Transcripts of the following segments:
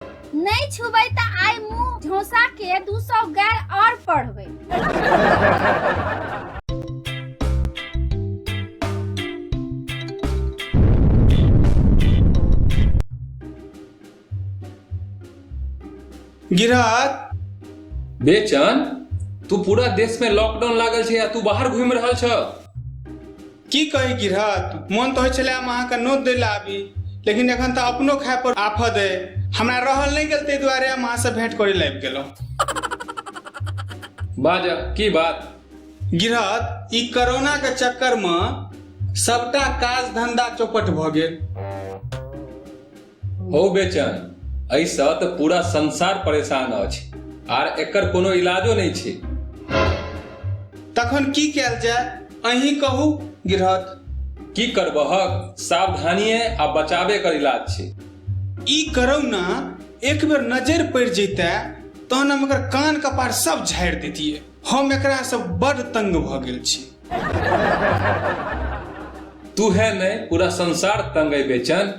नहीं छुबै त आइ मुंह झोसा के 200 गैर और पढ़बै गिरहत बेचन तू पूरा देश में लॉकडाउन लागल छै आ तू बाहर घूम रहल छ की कही गिरहत मोन तऽ होइ छलै हम अहाँके नोत दै लए आबी लेकिन एखन तऽ अपनो खाय पर आफत अइ हमरा रहल नहि गेल ताहि दुआरे हम अहाँसँ भेंट करै लए आबि गेलहुँ बाज की बात गिरहत ई कोरोना के चक्कर मे सबटा काज धंधा चौपट भऽ गेल हो बेचन एहिसँ तऽ पूरा संसार परेशान अछि आर एकर कोनो इलाजो नहि छै तखन की कयल जाय अहीं कहू गिरहत की करबहक सावधानिये आ बचावे कर इलाज छै ई करौ ना एक बेर नजर पड़ि जैते तहन हम एकर कान कपार सब झाड़ि दैतियै हम एकरा से बड़ तंग भ गेल छी तू है नहीं पूरा संसार तंग है बेचन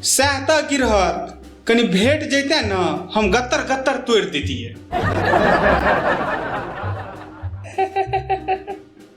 सएह तऽ गिरहत कनि भेट जैते न हम गत्तर गत्तर तोड़ि दैतियै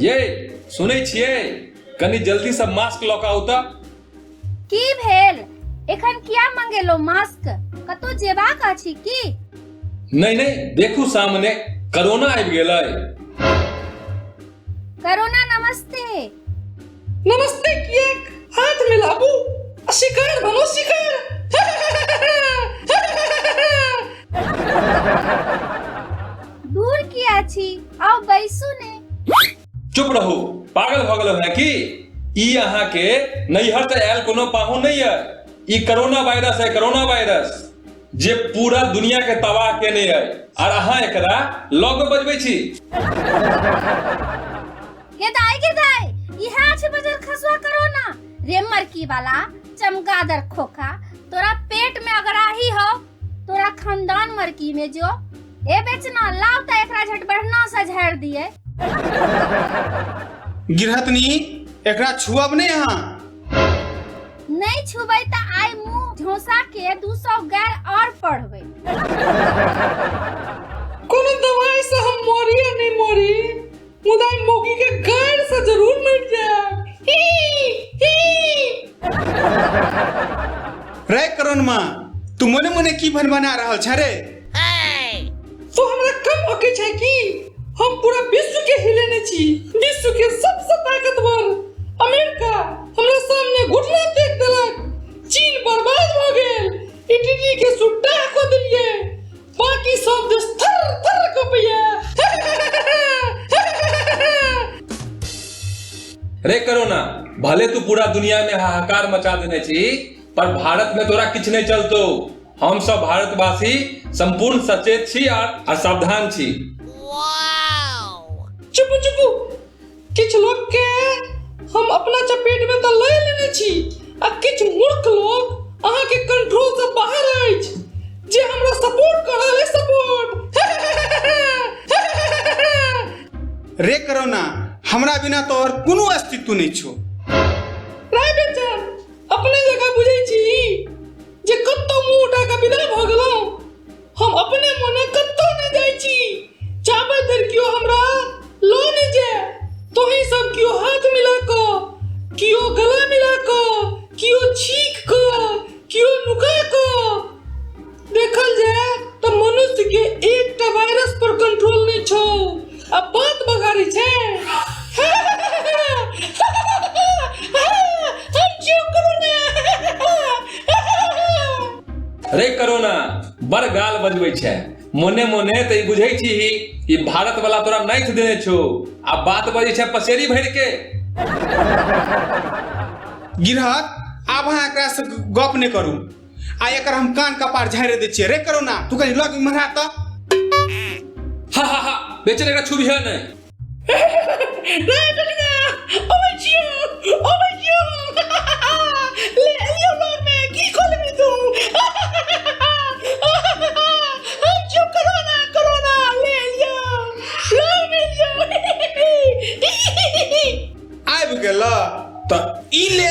ये सुनै छियै कनी जल्दी से मास्क लऽ कऽ आउ तऽ की भेल एखन किया मंगेलो मास्क कतौ जेबाक अछि की नहि नहि देखू सामने कोरोना आबि गेलै करोना नमस्ते नमस्ते किएक हाथ मिलाबू आ शिकार बनो शिकार दूर किया छी आओ बैसू ने चुप रहू पागल भऽ गेलहुँ हैं की ई अहाँके नैहर से आयल कोनो पाहुन नहीं है ई कोरोना वायरस है कोरोना वायरस जे पूरा दुनिया के तबाह केने है और अहाँ एकरा लग में बजबै छी हे दाई गिर दाई इहा छे बजर खसवा करो ना रे मरकी वाला चमगादर खोखा तोरा पेट में अगर आही हो तोरा खानदान मरकी में जो ए बेचना लाव त एकरा झट बढ़ना से झाड़ दिए गिरहतनी एकरा छुअब नहीं यहाँ नहीं छुबै त आइ मुंह झोसा के 200 गैर और पढ़बै कोनो दवाई से हम मोरिए नहीं मोरी मुदा ई मौगी के गाड़ से जरूर मिट जाए रे करण माँ तू मने मने की भन बना रहल छ रे तो हमरा कम होके छै कि हम पूरा विश्व के हिलेने छी विश्व के सबसे ताकतवर अमेरिका हमरा सामने घुटना टेक देलक चीन बर्बाद भ गेल इटली के सुट्टा को देलिए बाकी सब देश थर थर कपैया रे करोना भले तू पूरा दुनिया में हाहाकार मचा देने छी पर भारत में तोरा किछ नहीं चलतो हम सब भारतवासी संपूर्ण सचेत छी और और सावधान छी चुप चुप किछु लोकके हम अपना चपेटमे तऽ लए लेने छी आ किछु मूर्ख लोक अहाँके कंट्रोल से बाहर अछि जे हमरा सपोर्ट कर रहल अछि सपोर्ट रे करोना हमरा बिना तोहर कोनो अस्तित्व नहि छौ राय बेचन अपने जगह बुझै छी जे कतौ मुंह उठा कऽ विदा भऽ गेलहुँ हम अपने मोने कतौ नहि जाइ छी चाबै धरि केओ हमरा लो नहि जाय तोही सब केओ हाथ मिला कऽ केओ गला मिला कऽ केओ छीक कऽ केओ नुका कऽ देखल जाय तऽ मनुष्य के एकटा वायरस पर कंट्रोल नहि छौ आ बात बघारी छै रे करोना बड़ गाल बजबै छै मोने मोने तऽ ई बुझै छी ई भारत वाला तोरा नाइथ देने छौ आ बात बजै छै पसेरी भरि के गिरहत आब अहाँ एकरासँ गप नहि करू आ एकर हम कान कपार झाड़ि दै छियै रे करोना तू कहीं लग इम्हरा तऽ हा हा हा बेचन एकरा छुबी है नहीं आबि गेल तऽ ई ले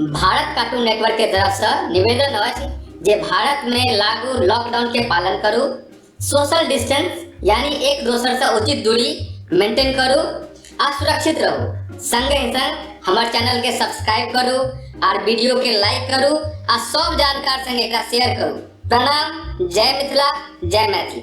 भारत कार्टून नेटवर्क के तरफ से निवेदन अछि जे भारत में लागू लॉकडाउन के पालन करू सोशल डिस्टेंस यानी एक दोसर से उचित दूरी मेंटेन करू आ सुरक्षित रहू संगे ही संग हमार चैनल के सब्सक्राइब करू और वीडियो के लाइक करू आ सब जानकार संग एकरा शेयर करू प्रणाम जय मिथिला जय मैथिली